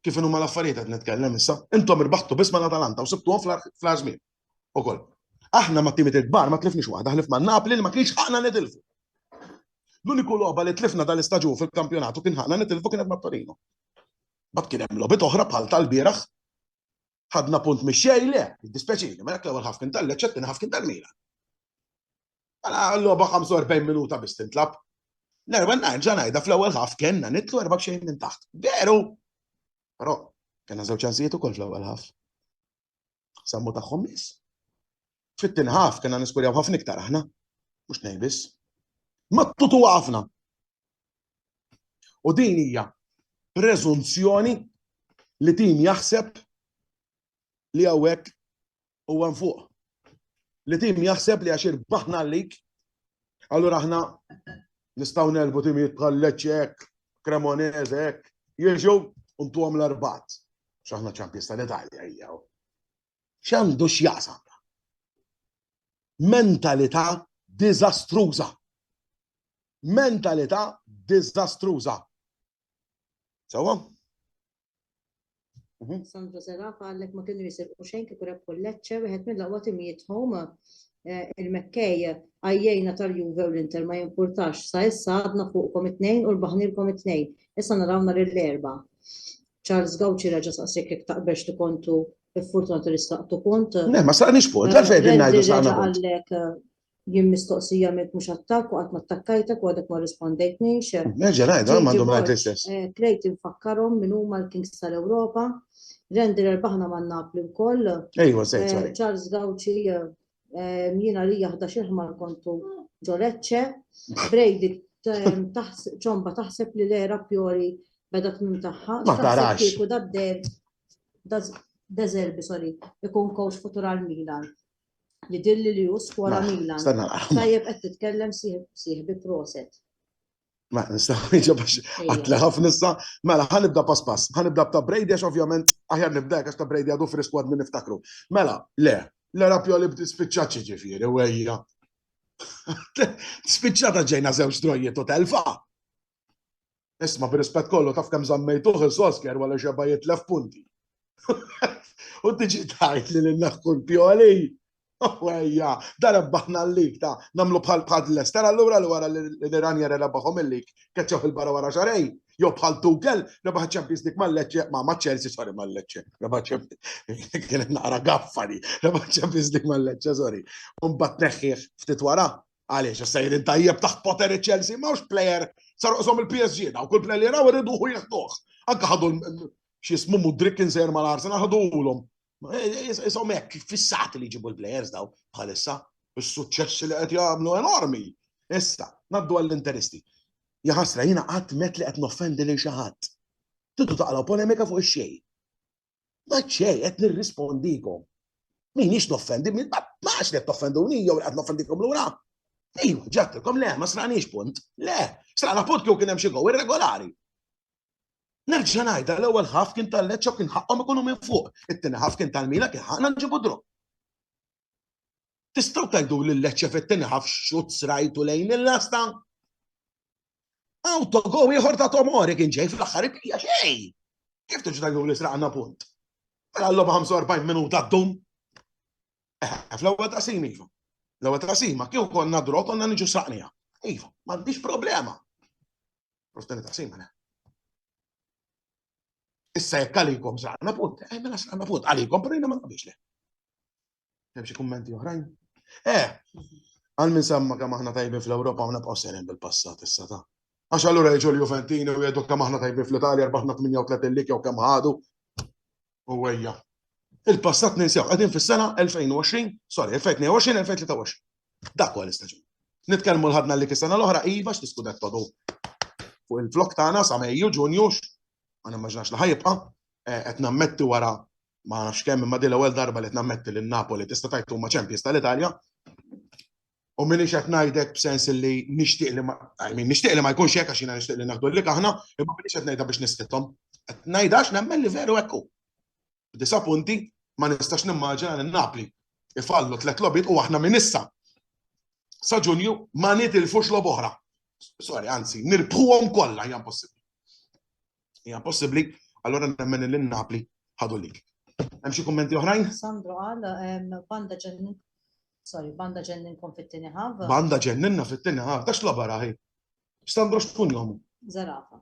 kif inhuma l-affarijiet qed nitkellem issa, intom irbaħtu biss mal-Atalanta u sibtuhom fl-aħħar żmien. Ukoll. Aħna ma' timiet il-kbar ma tlifniex waħda ħlif ma' Napli li ma kienx ħaqna nitilfu. L-uniku logħba li tlifna dal-istaġun fil-kampjonatu kien ħaqna nitilfu kienet ma' Torino. Bad kien hemm logħbiet oħra bħal tal-bieraħ ħadna punt mix-xej le, dispjaċini, ma dak l-ewwel ħaf kien tal-Leċċ, it-tieni ħaf kien tal-Milan. Mela l-logħba 45 minuta biss tintlab. Nerwa nerġa' ngħidha fl-ewwel ħaf kellna nitlu erba' xejn minn taħt. Veru! Però kellna żewġ ċansijiet ukoll fl-ewwel ħaf. Sammu tagħhom biss. Fit-tieni ħaf kellna niskurjaw ħafna iktar aħna. Mhux ngħid biss. Mattutu ħafna. U din hija preżunzjoni li tim jaħseb li hawnhekk huwa nfuq. Li tim jaħseb li għax irbaħna għalik, allura aħna nistgħu nelbu timijiet bħal Lecce hekk, Cremonese hekk, jiġu u ntuhom l-arbat. X'aħna ċampjista l-Italja hija. X'għandu x'jaqsam. Mentalità diżastruża. mentalità diżastruża. Sewwa? Mhm. Sandra Seraf għallek ma kienu jisirqu xejn kif rep kolleċċe wieħed mill-aqwa timijiet home eh, il-Mekkej għajjejna tal-Juve u l-Inter ma jimpurtax sa issa għadna fuqkom it-tnejn u l-baħnilkom it-tnejn. Issa narawna l-erba. Charles Gauci reġa saqsik jek taqbex li kontu il-fortuna tal-istaqtu kont. Ne, ma saqnix punt, għalfej din najdu saqna punt. Jien mistoqsija mink mhux attakk u qatt ma attakkajtek u għadek ma rrispondejtnix. Nerġa' ngħid għal m'għandhom ngħid l-istess. Klejt infakkarhom min huma l-Kings tal-Ewropa. Randy rbaħna ma' Napli wkoll. Ejwa, żejt, żejt. Charles Gauci jien għalija ħdax il-ħmar kontu ġo Lecce. Brady ċomba taħseb li l-era Pioli beda tmim tagħha. Ma tarax. Kieku da Deserbi, sorry, ikun coach futur għal Milan. li dilli li hu skwara Milan. Tajjeb qed titkellem sieħbi proset. Ma nistaw iġa biex għatli ħafna issa, mela ħanibda pass pass, ħanibda ta' Brady għax ovvjament aħjar nibda għax ta' Brady għadu frisk għad minn niftakru. Mela, le, le rapjo li bdi spiċċaċi ġifiri, u għajja. Spiċċata ġejna zewġ drojiet u telfa. Isma' bir-rispett kollu taf kemm żammejtuh il-Solskjaer wara xebgħa jitlef punti. U tiġi tgħid li lil naħku l-pjoli. Ejja, dan ebbaħna l-lig ta' nagħmlu bħal bħal Leicester allura li wara li Ranieri rebaħhom il-lig keċċew il-barra wara xarejn. Jew bħal Tuchel rebaħ Champions League mal-Lecce ma' ma' Chelsea sorry mal-Lecce. Rebaħ Champions kienet naqra gaffa li rebaħ Champions League mal-Lecce sorry. Mbagħad neħħih ftit wara Għaliex, issa jrid tajjeb taħt poteri Chelsea, ma hux plejer sar uqsom il-PSG, daw kull plejer li raw irridu hu jieħduh. Anka ħadu x'jismu Mudrik inser mal-Arsenal ħaduhulhom. Isom hekk fissat li jġibu l-plejers daw bħalissa, is-suċċessi li qed jagħmlu enormi. Issa, naddu għall-interisti. Jaħasra, jina għat met li għat noffendi li xaħat. Tidu taqlaw polemika fuq xej. Ma ċej, qed nirrispondikom. Min ix noffendi, min ma għax qed toffenduni jew qed noffendikom lura. Ejju, ġattilkom le, ma sranix punt. Le, srana punt kieku kien hemm xi gow irregolari. Nerġa' ngħidha l-ewwel ħaf kien tal-leċċa kien ħaqqhom ikunu minn fuq. It-tieni ħaf kien tal-mila kien ħaqna nġibu dru. Tistgħu tgħidu li Lecce fit-tieni ħaf xut srajtu lejn il-lasta? Autogo ieħor ta' Tomori kien ġej fl-aħħar ipija xejn. Kif tiġu tgħidu li sraqna punt? Mela l 45 minuta ddum. Eh, fl-ewwel ta' simi, iva. L-ewwel ta' sima kieku konna dro konna niġu saqnija. Iva, m'għandix problema. Rostani ta' sima, le. Issa jekk għalikom saqna punt, eh, mela saqna punt, għalikom, pero jina ma naqbix le. Hemm xi kummenti oħrajn? Eh, għal min samma kemm aħna tajbin fl-Ewropa u nabqgħu serin bil-passat issa ta' Għax allura jġu l-Juventini u jgħidu kemm aħna tajbin fl-Italja, rbaħna 38 lik jew kemm ħadu. U għajja. Il-passat ninsew, għadin fis-sena 2020, sorry, 2022, 2023. Dak huwa l-istaġun. Nitkellmu l-ħadna li kisana l-oħra, iva x'tiskudet todu fuq il-flok tagħna sa Mejju, Ġunju, ma nimmaġinax li ħajibqa' eh, qed nammetti wara ma nafx kemm imma din l-ewwel darba li qed nammetti lil Napoli tista' tajt huma champions tal-Italja. U minix qed ngħidek b'sens li nixtieq li ma nixtieq li ma jkunx hekk għax jiena nixtieq li naħdu lik aħna, imma minix qed ngħidha biex nisqithom. Qed ngħidha għax nemmen li veru hekk b'disa' punti, ma nistax nimmaġina lil Napli ifallu tliet logħbiet u aħna minn issa sa Ġunju ma nitilfux logħba oħra. Sorry, anzi, nirbħuhom kollha hija impossibbli. Hija impossibbli, allura nemmen lil Napli ħadu lik. Hemm xi kummenti oħrajn? Sandro għal ehm, banda ġennin Sorry, banda ġenninkom fit-tieni ħav. Banda ġenninna fit-tieni ħav, dax logħba raħi. Sandro x'kun jomu? Zerafa.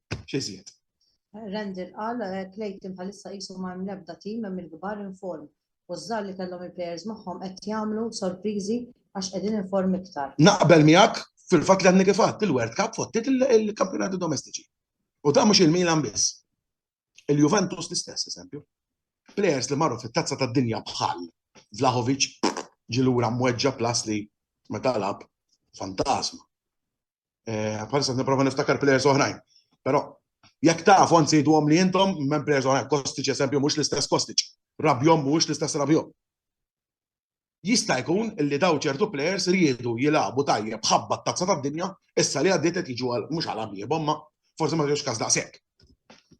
X'izjed? Randall qal, Clayton bħalissa qisu ma hemm l-ebda tim hemm il-kbar inform u ż-żgħar li kellhom il-plejers magħhom qed jagħmlu sorpriżi għax qegħdin inform iktar. Naqbel miegħek fil-fatt li għadni kif għadt il-World Cup fottiet il-kampjonati domestiċi. U da mhux il-Milan biss. Il-Juventus l-istess eżempju. Plejers li marru fit-tazza tad-dinja bħal Vlahovic ġilura mweġġa plas li meta lab fantasma. Eh, bħalissa niprofa niftakar players oħrajn. Pero, jek taf, għan sejdu għom li jintom, men players oħrajn, Kostic esempio, mux l-istess Kostic, Rabjom mux l-istess Rabjom. Jista' jkun li daw ċertu players riedu jilabu tajjeb ħabba t-tazza tad-dinja, issa li għaddiet qed jiġu għal mhux għal għabiebhom ma forsi ma ġewx każ daqshekk.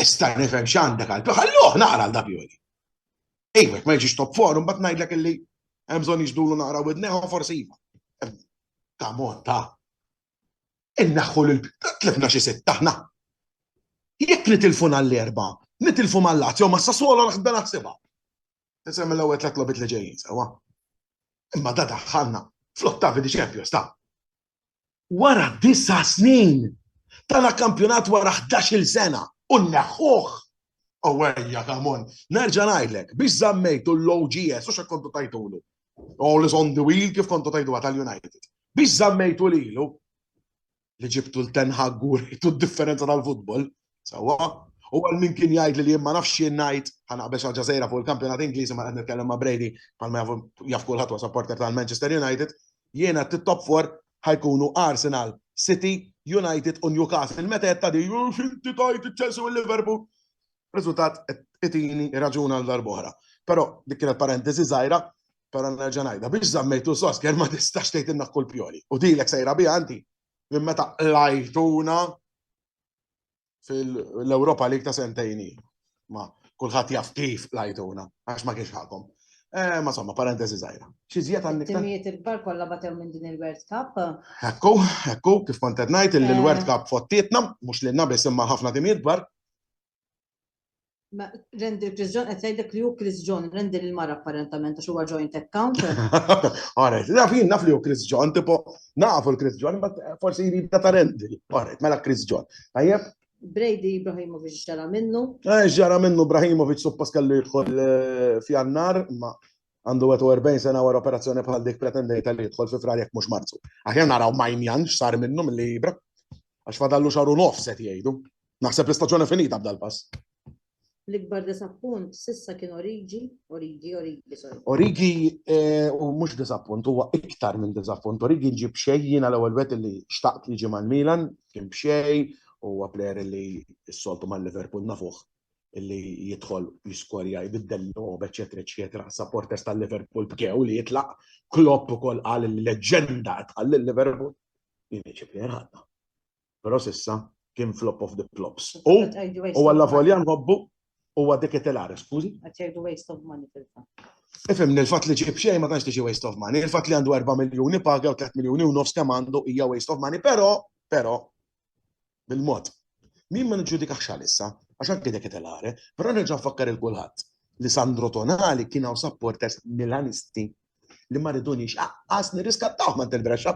Issa nifhem x'għandek għal Pioli. Ħalluh naqra għal da Pioli. Ejwek, ma jiġix top forum, bat ngħidlek illi hemm bżonn jiġdulu naqra widneħu forsi iva. Ta' mod ta' innaħħu lil tlifna xi sitt aħna. Jekk nitilfu għall-erba, nitilfu mal-Lazio ma Sassuolo naħsben naħsibha. Nisem l-ewwel tliet lobit li ġejjin sewa. Imma da daħħalna fl-ottavi di Champions ta' Wara disa' snin, tala' kampjonat wara ħdax-il sena u nneħħuh! Ewwejja come on! Nerġa' ngħidlek, biex żammejtu l-OGS u x'hekk kontu tgħidulu. All is on the wheel kif kontu tgħiduha tal-United. Biex żammejtu lilu, li ġibtu 'l Ten Hag u wrejtu d-differenza tal-futbol, Sawa, u għal min kien jgħid li jien ma nafx jien ngħid ħanaqbex għal ġażejra fuq il-kampjonat Ingliżi ma qed nitkellem ma' Brady bħalma jaf kulħadd wa supporter tal-Manchester United, jien għad top 4 ħajkunu Arsenal, City, United u Newcastle. Meta qed tagħdi xinti tajt Chelsea u Liverpool. Riżultat itini raġun għal darbohra. Però dik kienet parentesi żgħira, però nerġa' ngħidha biex żammejtu sosker ma tistax tgħidilna kull pjoli. U dilek sejra biha anti minn meta lajtuna fil-Europa League ta' sentejni. Ma kulħadd jaf kif lajtuna, għax ma kienx ħakom. Eh, ma somma, parentesi zaħira. Xizjiet għandik. Timijiet il-kbar kolla batew minn din il-World Cup. Ekku, ekku, kif kontet najt il-World eh. Cup fottietna, mux li nabis imma ħafna timijiet kbar. Ma, rendi Chris John, qed jgħidlek li hu Chris John, rendi lil mara apparentament għax huwa joint account. Għaret, naf jien naf li hu Chris John, tipo, nafu l-Chris John, ma forsi jrid ta' rendi. Għaret, mela Chris John. Tajjeb? Brady Ibrahimovic ġara minnu. Eh, ġara minnu Ibrahimovic suppost kellu jidħol eh, f'jannar, ma għandu 41 sena wara operazzjoni bħal dik pretendejta li jidħol fi frar jekk mhux Marzu. Aħjar naraw Main Jan x'sar minnu milli jibra. Għax fadallu xaru nofs qed jgħidu. Naħseb l-istaġuni finita b'dal pass. L-ikbar disappunt sissa kien Origi, Origi, Origi, sorry. Origi eh, u mhux disappunt, huwa iktar minn disappunt. Origi ġib xejn jiena l-ewwel wet li xtaqt li ġie mal-Milan, kien b'xej, huwa plejer li s-soltu mal-Liverpool nafuh li jidħol jiskorja, jbiddel l-lob, eċetera, eċetera. Supporters tal-Liverpool bkew li jitlaq Klopp ukoll qal il-leġenda tħalli l-Liverpool. Jimiċi bħer ħadna. Però sissa kien flop of the flops. U u għalla volja nħobbu u għadik it-telare, skużi? Għatjajdu waste of money fil-fat. Ifim, nil-fat li ġib xej ma tanx tiġi waste of money, il-fat li għandu 4 miljoni paga u 3 miljoni u nofs kemm għandu hija waste of money, però, però, bil-mod. Min ma niġġudikax għalissa, għax anke dik qed l-are, però nerġa' nfakkar il kulħadd li Sandro Tonali kien hawn supporters Milanisti li ma ridunix aqqas nirriskattawh ma' Del Brescia.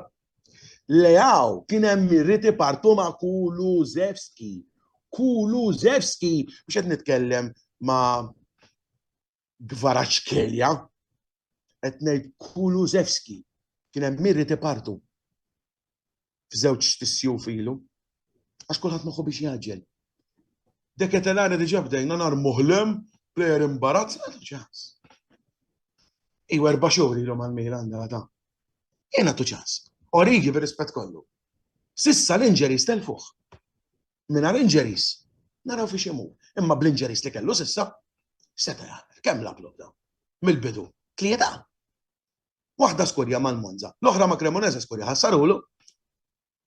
Leaw kien hemm irriti partu ma' Kuluzewski. Kuluzewski biex qed nitkellem ma' Gvaraċkelja, qed ngħid Kulusevski, kien hemm min rid ipartu f'żewġ tissjuf ilu, għax kulħadd moħħu biex jagħġel. Deketelari diġà bdejna nar muħlem, plejer imbarazz, għadu ċans. Iw erba' xhur ilhom għal Milan ta' Jena tu ċans. Origi bir rispett kollu. Sissa l-inġeri stelfuħ. mingħajr injuries naraw fiex imur. Imma bl-injuries li kellu s'issa seta' jaqbel kemm lab lobda mill-bidu tlieta. Waħda skurja mal-Monza, l-oħra ma' Cremonese skurja ħassarulu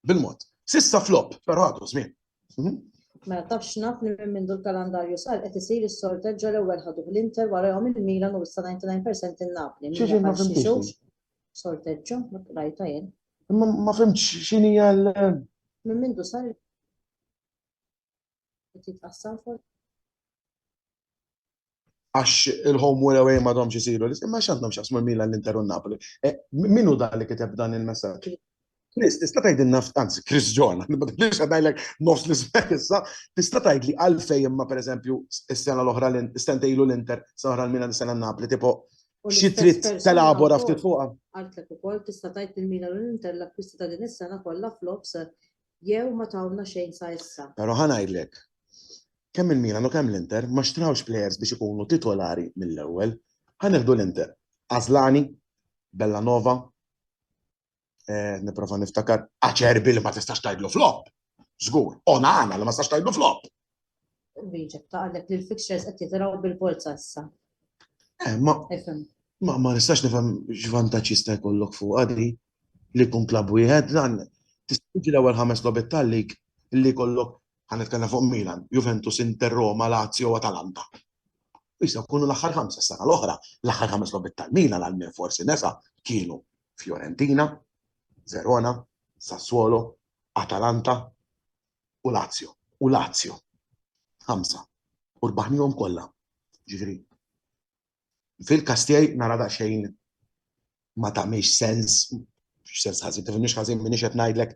bil-mod. Sissa flop, però għadu żmien. Mhm. Mela tafx naf li minn mindu l-kalandarju sar qed isir is-sorted ġol ewwel ħaduh l-Inter warahom il-Milan u issa 99% in-Napli. Xi ġimgħa f'imtixu? Sorteġġo, rajta jien. Imma ma fimx x'inhi għal. Minn mindu sar qed jitqassam fuq. Għax il-home wara wejn ma domx isiru, imma x'għandhom x'jaqsmu l-Milan l-Inter u Napoli. Eh, min hu dan li kiteb dan il-messaġġ? Chris, tista' tgħidilna anzi Chris John, ma tibdilx ngħidlek nofs l-ismek issa, tista' tgħidli għalfejn imma pereżempju s-sena l-oħra l-istentejlu l-Inter, s-sena l-Milan, s-sena Napoli, tipo Xi trid telabora ftit fuqha? Qaltlek ukoll tista' tgħid li l-Milan u l-Inter l-akkwisti ta' din is-sena kollha flops jew ma tawna xejn sa issa. Però ħa ngħidlek, kemm il-Milan u kemm l-Inter ma xtrawx plejers biex ikunu titolari mill-ewwel. Ħa nieħdu l-Inter, Asllani, Bellanova, eh, niprofa niftakar, aċerbi li ma tistax tajdlu flop. Zgur, onana li ma tistax tajdlu flop. Wieġeb ta' għalek li l-fixtures qed jitraw bil-forza issa. Eh, ma ma nistax nifhem x'vantaġġ jista' jkollok fuq għadi li kun klab wieħed dan tistiġi l-ewwel ħames lobet tal-lig li kollok ħanetkellem fuq Milan, Juventus, Inter, Roma, Lazio, Atalanta. Issa kunu l-aħħar ħamsa sena l-oħra, l-aħħar ħames lobit tal-Milan għal min forsi nesa kienu Fiorentina, Verona, Sassuolo, Atalanta u Lazio. U Lazio. Ħamsa. U rbaħnihom kollha. Ġifieri fil-każ tiegħi nara daqsxejn ma tagħmilx sens, sens ħażin, tifhimniex ħażin minix qed ngħidlek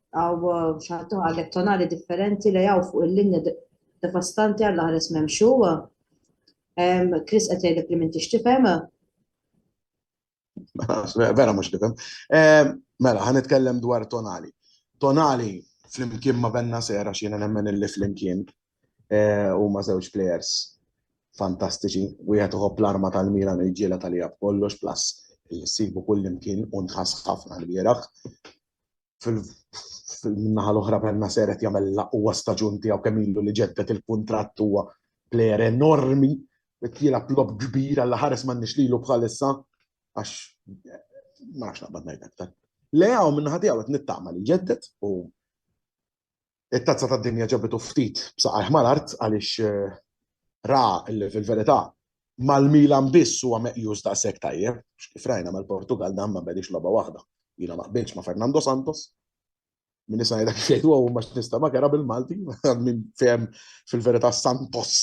Għaw xaħtu għalek tonali differenti li għaw fuq il-linja devastanti għalla ħares memxu. Kris għetajlek li minti xtifem. Vera mux tifem. Mela, għan itkellem dwar tonali. Tonali flimkien ma benna sera xina nemmen il-li flimkien eh, u ma zewġ players fantastiċi. U jgħet uħob l-arma tal-Milan u jġiela tal-jab kollox plus il-sibu kullimkien un ħas ħafna l-biraħ. fil-naħa l-oħra Benna seret jagħmel l-aqwa staġun tiegħu kemm ilu li ġeddet il-kuntratt huwa plejer enormi qed jilgħab lob kbir għal ħares m'għandniex lilu bħalissa għax ma nafx naqbad ngħid aktar. Leaw minn ħadija qed nittama li ġeddet u It-Tazza tad-Dinja ġabitu ftit b'saqajh mal-art għaliex ra li fil-verità mal-Milan biss huwa meqjus daqshekk tajjeb, kif rajna mal-Portugall dan ma bnediex logħba waħda. Jiena ma qbiltx ma' Fernando Santos, min nista' ngħidha kif jgħidu hawn ma x'nista' ma kera bil-Malti, min fehem fil-verità Santos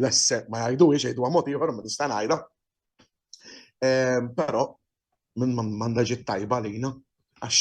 lesse ma jgħiduhiex jgħiduha mod ieħor ma nista' ngħidha. Però minn m'għandha ġiet tajba għalina għax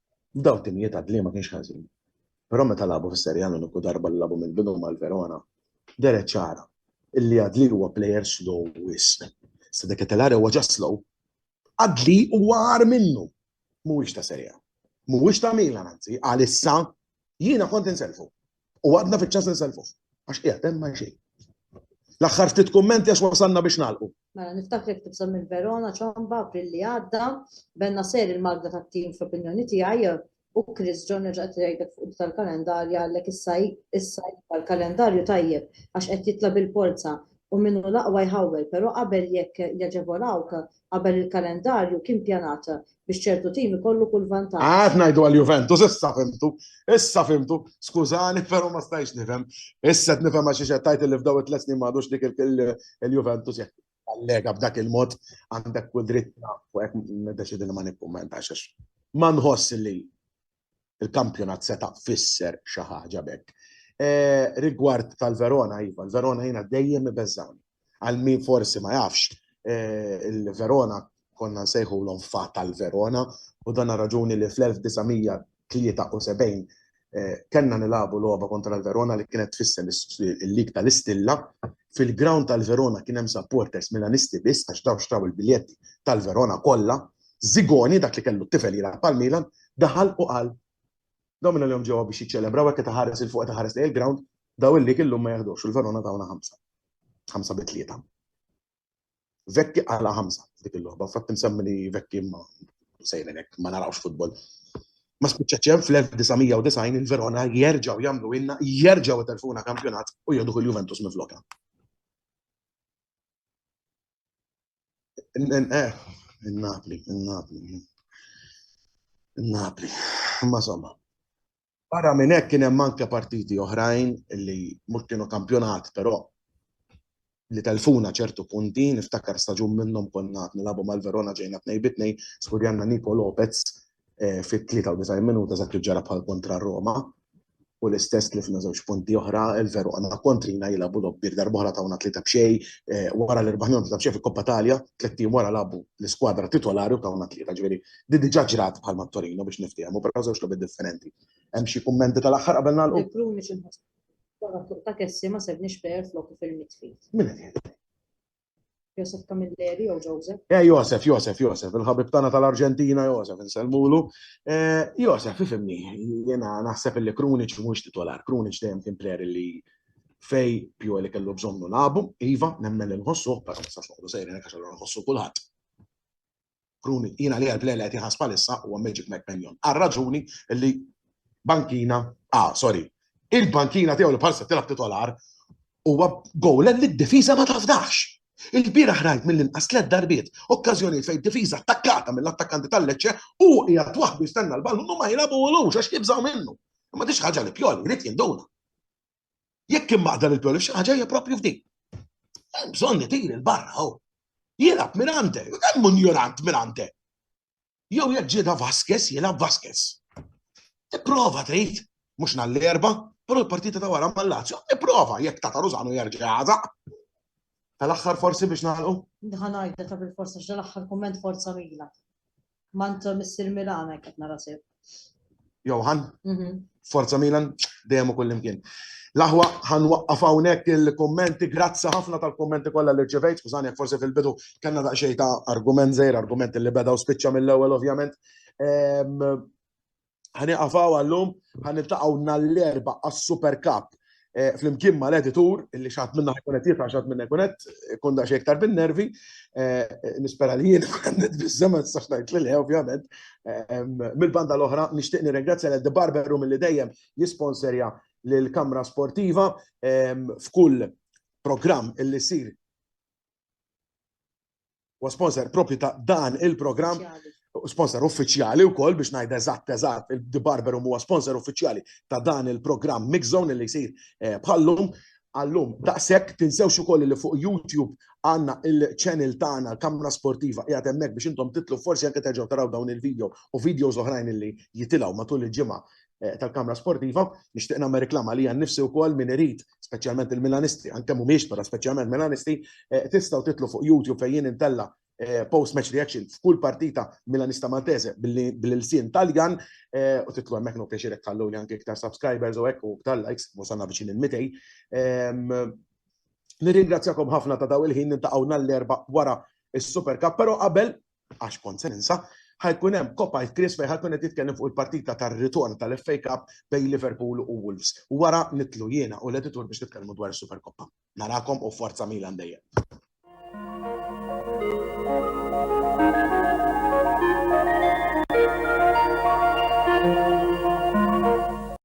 F'dawn it-timijiet Adli ma kienx ħażin, però meta lagħbu fis-Serie A l-uniku darba li lagħbu mill-bidu mal-Verona, dehret ċara illi Adli huwa plejer slow wisq. Sta De Ketelaere huwa ġa slow. Adli huwa agħar minnu. Mhuwiex ta' Serie A. Mhuwiex ta' Milan anzi, għalissa jiena kont insellfu. U għadna fiċċa se nselfuh. Għax qiegħed hemm ma xejn. L-aħħar ftit kummenti għax wasalna biex nagħlqu. Mela niftakar kif tibsam minn Verona ċomba april li għadda, benna ser il-magda tat-tim fl-opinjoni tiegħi u Chris John reġa' tgħidek fuq tal-kalendarju għalhekk issa issa tal-kalendarju tajjeb għax qed jitla bil-polza u minnu l-aqwa jħawwel, però qabel jekk jaġevolawk Qabel il-kalendarju kien pjanat biex ċertu tim ikollu kull vantaġġ. Għad ngħidu għal Juventus, issa fimtu, issa fimtu, skużani però ma stajx nifhem. Issa qed nifhem għax xi tajt li f'daw it-tliet snin m'għadux dik il-Juventus jekk allega b'dak il-mod għandek kull dritt fuq hekk niddeċidi li ma nikkummentax għax ma nħoss li il-kampjonat seta' fisser xi ħaġa b'hekk. Rigward tal-Verona, iva, l-Verona jiena dejjem ibeżżgħuni. Għal min forsi ma jafx, il-Verona konna nsejħulhom fa tal-Verona u dan raġuni li fl-1973 kellna nilagħbu logħba kontra l-Verona li kienet tfisser il-lig tal-istilla. Fil-ground tal-Verona kien hemm supporters Milanisti biss għax dawn xtraw il-biljetti tal-Verona kollha Zigoni, dak li kellu t-tifel jilgħab għall-Milan, daħal u qal, Dawn minn għalihom ġewwa biex jiċċelebraw hekk qed iħares 'il fuq qed iħares lejn il-ground, daw il-lig illum ma jeħdux u l-Verona tawna ħamsa. Ħamsa bi tlieta. Vekki qala ħamsa f'dik il-logħba, fatt insemmi li Vekki ma sejrin hekk ma narawx futbol. Ma spiċċaċ hemm fl-1990 il-Verona jerġgħu jagħmlu ilna, jerġgħu telfuna kampjonat u jieħdu kull Juventus minn flokha. Eh, In-Napli, in-Napli. In-Napli. Ma somma. Barra minn hekk kien hemm anke partiti oħrajn li mhux kienu kampjonat, però li telfuna ċertu punti, niftakar staġun minnhom konna nilagħbu mal-Verona ġejna tnej bitnej, skurjanna Niko Lopez fit-93 minuta dak li ġara bħal kontra Roma u l-istess tlifna żewġ punti oħra, il-veru għandna kontrina jilagħbu doppir darbohra tawna tlieta b'xej, wara li rbaħna tlieta b'xej fil-Koppa Talja, tliet ijiem wara lagħbu l-iskwadra titolari u tawna tlieta, ġifieri di diġà ġrat bħal mat-Torino biex niftehmu, però żewġ logħbiet differenti. Hemm xi kummenti tal-aħħar qabel nagħlqu? Bi Krunic imħasseb. Wara t-tluq ta' Kessie ma sebniex player f'loku fil-midfield. Min qed jgħidlek? Josef Camilleri jew Joseph? Eh, Josef, Josef, Josef, il-ħabib tagħna tal-Arġentina, Josef, insellmulu. Eh, Josef, ifimni, jena naħseb li Krunic mhux titolar, Krunic dejjem kien player li fej pju li kellu bżonnu labu, iva, nemmen li nħossu, però ma sax noqgħdu sejrin hekk għax nħossu kulħadd. Kruni, jiena li għal li qed jħass bħalissa huwa Magic Mike Mannion. Għal raġuni li bankina, ah, sorry, il-bankina tiegħu li bħalissa tilab titolar huwa gowlen li d-difiża ma tafdax. Il-bira ħrajt mill-inqas tliet darbiet, okkażjonijiet fejn difiża attakkata mill-attakkanti tal-leċċe u hija waħdu jistenna l-ballun u ma jilabulux għax jibżgħu minnu. Ma tix ħaġa li pjol, jrid jinduna. Jekk immaqda lil Pioli xi ħaġa hija propju f'dik. Hemm bżonn li tiri l-barra hawn. Jilab minn għandek, u kemm unjorant minn għandek. Jew jekk ġieda Vasquez, jilab Vasquez. Tipprova trid, mhux nhar l-erba, però l-partita ta' wara mal-Lazio, tipprova jekk ta' Taruzano jerġa' jagħżaq. Tal-aħħar forsi biex nagħlqu? Ħanajda ta' bil-forsa x'dan l-aħħar kumment forza Mila. Mant Missir Milan hekk qed nara sew. Johan, mhm. forza Milan, dejjem u kullimkien. Laħwa ħan waqqaf hawnhekk il-kummenti, grazzi ħafna tal-kummenti kollha li rċevejt, skużani jekk forsi fil-bidu kellna daqsxejn ta' argument żejr, argument li beda u spiċċa mill-ewwel ovvjament. Ehm, Ħanieqaf hawn għallum, ħaniltaqgħu nhar l-erba' għas-Super Cup eh, flimkien ma l-editur illi xaħat minna ħajkun qed jifra xaħat minna ħajkun qed kun daqs iktar bin-nervi. Eh, nispera li jien għandet biżżema tistax ngħid li le ovvjament. Mill-banda l-oħra nixtieq nirringrazzja l The Barber Room li dejjem jisponserja l-kamra sportiva f'kull programm illi sir Huwa sponsor propju ta' dan il-programm sponsor uffiċjali u koll biex najda eżatt eżatt il-The Barber huwa sponsor uffiċjali ta' dan il-programm Mix Zone li jsir eh, bħallum għallum daqshekk tinsewx ukoll li fuq YouTube għanna il-channel tagħna l-kamra sportiva qiegħed hemmhekk biex intom titlu forsi anke terġgħu taraw dawn il-video u videos oħrajn li jitilgħu matul il-ġimgħa eh, tal-Kamra Sportiva, nixtieq nagħmel reklama li nnifsi wkoll min irid, speċjalment il-Milanisti, anke mhumiex però speċjalment Milanisti, eh, tistgħu titlu fuq YouTube fejn intella eh, post match reaction f'kull partita Milanista Maltese bil-sin Taljan u titlu hemmhekk no pjaċir hekk li anke iktar subscribers u hekk u iktar likes, wasalna viċin il-mitej. Ehm, nirringrazzjakom ħafna ta' daw il-ħin nintaqgħu l-erba' wara is-Super Cup, però qabel għax kont se ninsa, ħajkun hemm Coppa Ice Chris fejn ħajkun qed jitkellem fuq il-partita tar-ritorn tal-FA Cup bejn Liverpool u Wolves. U wara nitlu jiena u l-editur biex nitkellmu dwar is-Super Coppa. Narakom u forza Milan dejjem.